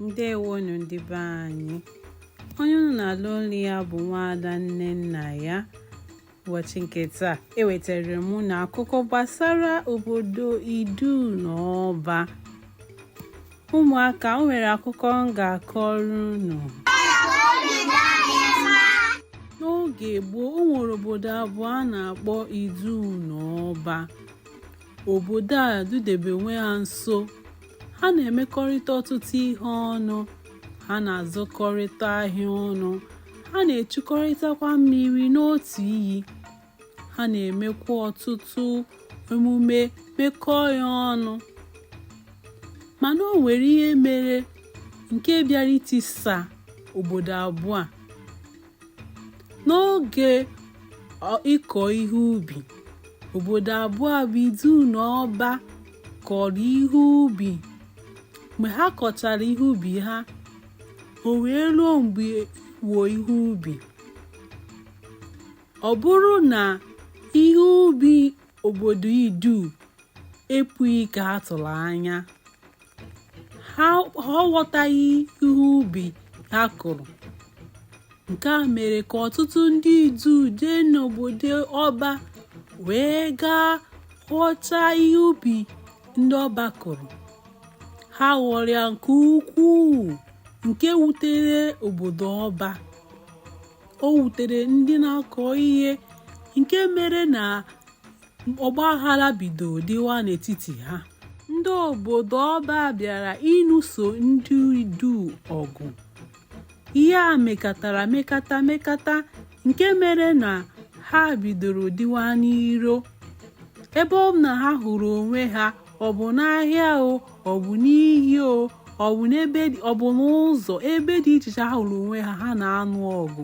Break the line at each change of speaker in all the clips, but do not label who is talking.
ndewonu ndị be anyị onye unu na-alụ olu ya bụ nwaada nnennaya ụbọchị nke taa ewetara m unu akụkọ gbasara obodo idu na ọba ụmụaka o nwere akụkọ m ga-akọrọ unu n'oge gboo o nwere obodo abụọ a na-akpọ idu na ọba obodo a dudebe onwe ha nso ha na-emekọrịta ọtụtụ ihe ọnụ ha na-azụkọrịta ahịa ọnụ ha na-echukọrịtakwa mmiri n'otu iyi ha na-emekwa ọtụtụ emume mekọọ ya ọnụ mana o nwere ihe mere nke bịara itisa obodo abụọ a n'oge ịkọ ihe ubi obodo abụọ a bụ idu na ọba kọrọ ihe ubi mgbe ha kọchara ihe ubi ha o wee ruo mgbe ịghọ ihe ubi ọ bụrụ na ihe ubi obodo idu epughị ka a tụrụ anya ha aghọtaghị ihe ubi ha kụrụ nke a mere ka ọtụtụ ndị idu jee n'obodo ọba wee gaa ghọta ihe ubi ndị ọba kụrụ ha ghọrọ ya nke ukwuu nke wutere obodo ọba o wutere ndị na-akọ ihe nke mere na ọgba aghara bido dịwa n'etiti ha ndị obodo ọba bịara ịnụso ndị idu ọgụ ihe a mekatara mekata mekata nke mere na ha bidoro dịwa n'iro ebe ọ bụna ha hụrụ onwe ha ọ bụ n'ahịa o ọ bụ n'iyi o ọ bụ n'ebe ọ bụ n'ụzọ ebe dị iche iche ha hụrụ onwe ha ha na-anụ ọgụ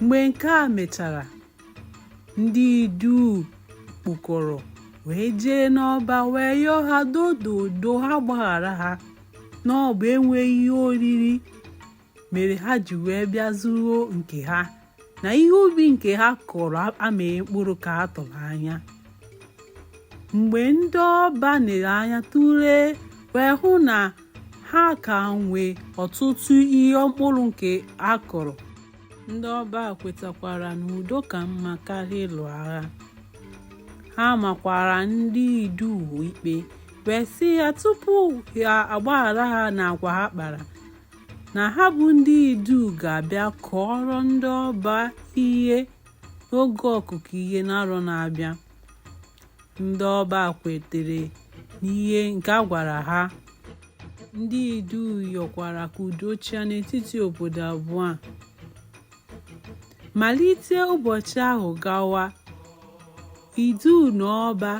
mgbe nke a mechara ndị idu kpụkọrọ wee jee n'ọba wee yọọ ha dododo ha gbaghara ha na ọ bụ enweghị ihe oriri mere ha ji wee bịa zuru nke ha na ihe ubi nke ha kọrọ amịghị mkpụrụ ka a tụrụ anya mgbe ndị ọba nere anya tụlee wee hụ na ha ka nwee ọtụtụ ihe mkpụrụ nke ha kọrọ ndị ọba kwetakwara na udo ka mma karịa ịlụ agha ha makwara ndị idu ikpe wee sị ya tupu ha agbaghara ha n'agwa ha kpara na ha bụ ndị idu ga-abịa kọọrọ ndị ọba ihe oge ọkụkọ ihe n'arọ na-abịa Ndị Ọba kwetere n'ihe nke a gwara ha. Ndị Idu yọkwara ka udo chịa n'etiti obodo abụọ a. Malite ụbọchị ahụ gawa, Idu na Ọba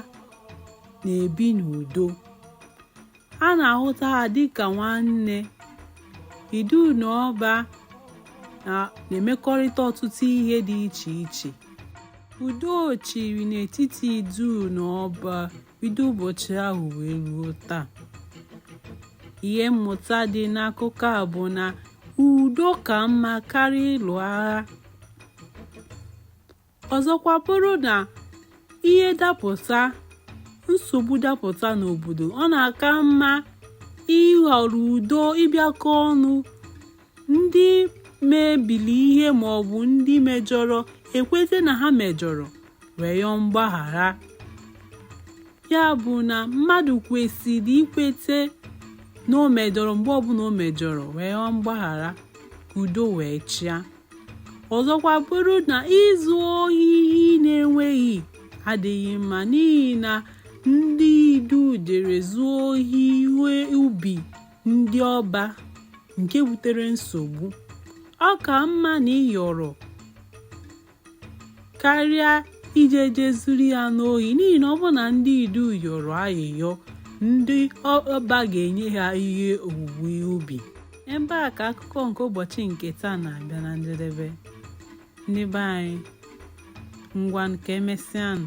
na-ebi n'udo. a na-ahụta ha dịka nwanne idu na ọba na-emekọrịta ọtụtụ ihe dị iche iche udo chịrị n'etiti idu na ọba bido ụbọchị ahụ wee ruo taa ihe mmụta dị n'akụkọ a bụ na udo ka mma karịa ịlụ agha ọzọkwa bụrụ na ihe dapụta nsogbu dapụta n'obodo ọ na-aka mma ịhọrọ udo ịbịakọ ọnụ ndị mebili ihe ma ọ bụ ndị mejọrọ ekweta na ha mejọrọ wee yọọ mgbaghara ya bụ na mmadụ kwesịrị ikweta na o mejọrọ mgbe ọbụla o mejọrọ wee yọọ mgbaghara ka udo wee chịa ọzọkwa bụrụ na izu ohi na-enweghị adịghị mma n'ihi na ndị idu jere zuo ohi ihe ubi ndị ọba nke butere nsogbu ọ ka mma na ị yọrọ karịa ije je zuru ya n'ohi n'ihi na ọ bụrụ na ndị idu yọrọ ayịyọ ndị ọba ga-enye ha ihe owuwe ihe ubi ebe a ka akụkọ nke ụbọchị nke taa na-abịa na njedebe ndị be anyị ngwanụ ka emesịanụ